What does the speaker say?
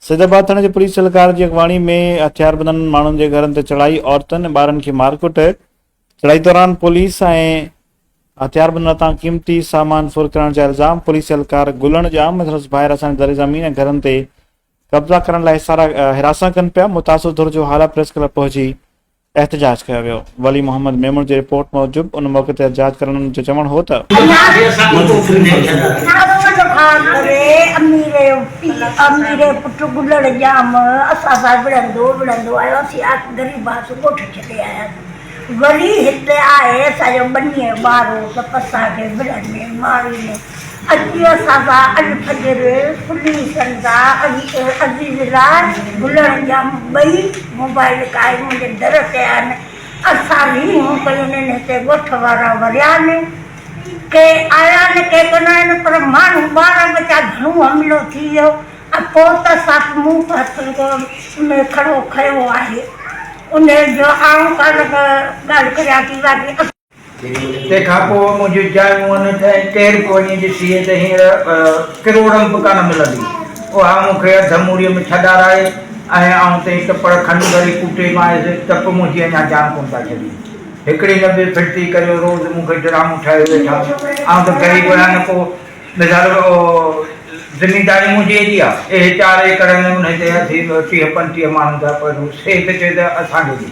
سيدآباد ٿاڻي جي پوليس اھلڪار جي اڳواڻي ۾ ھٿياربندن ماڻھن جي گھرن تي چڙھائي، عورتن ۽ ٻارن کي مارڪٽ، چڙھائي دوران پوليس ۽ ھٿياربندن ھٿان قيمتي سامان ڦر ڪرڻ جا الزام، پوليس اھلڪار گلڻ ڄام ۽ سندس ڀائر اسان جي زرعي زمين ۽ گھرن تي قبضا ڪرڻ لاء ھراسان ڪن پيا، متاثر ڌر جو ھالا پريس ڪلب پهچي احتجاج ڪيو ويو. ولي محمد ميمڻ جي رپورٽ موجب ان موقعي تي احتجاج ڪرڻن جو چوڻ هو ته. اچي اسان سان الفجر، کلي سندا ۽ عزيز لا گلڻ ڄام ٻئي موبائل ڪائي منهنجي در تي آهن. اسان ويهون پيون نين هتي ڳوٺ وارا وريا نين. ڪي آيا نه ڪي ڪونه آين پر ماڻهو ٻارا ٻچا گهڻو حملو ٿي ويو ۽ پوء ته ساک مون به هٿن ۾ کڙو کنيو آهي. انهيء جو آئون ڪا نه ڪا ڳالهه ڪريان ٿي باقي اڳتي. تنهن کان پوء منهنجي جاء مون نه ٿئي، ڪير به وڃي ڏسي ته هينئر ڪروڙم به ڪانه ملندي. اها مون کي اڌ موريء ۾ ڇڏارائي ۽ آئون تئي ته پڙ کن وري ڪوٽي مائيس ته به منهنجي اڃا جان ڪونه ٿا ڇڏين. هڪڙي نه ٻي ڦڙتي ڪريو روز مون کي ڊرامو ٺاهيو ويٺا. آئون ته غريب آهيان نه ڪو مظهر زمينداري منهنجي ايڏي آ. اهي چار ايڪڙ ۽ انهي تي اٿي ٽيهه پنجٽيهه ماڻهن جا پوء روز هيء ٿو چوي ته اسان کي ڏي.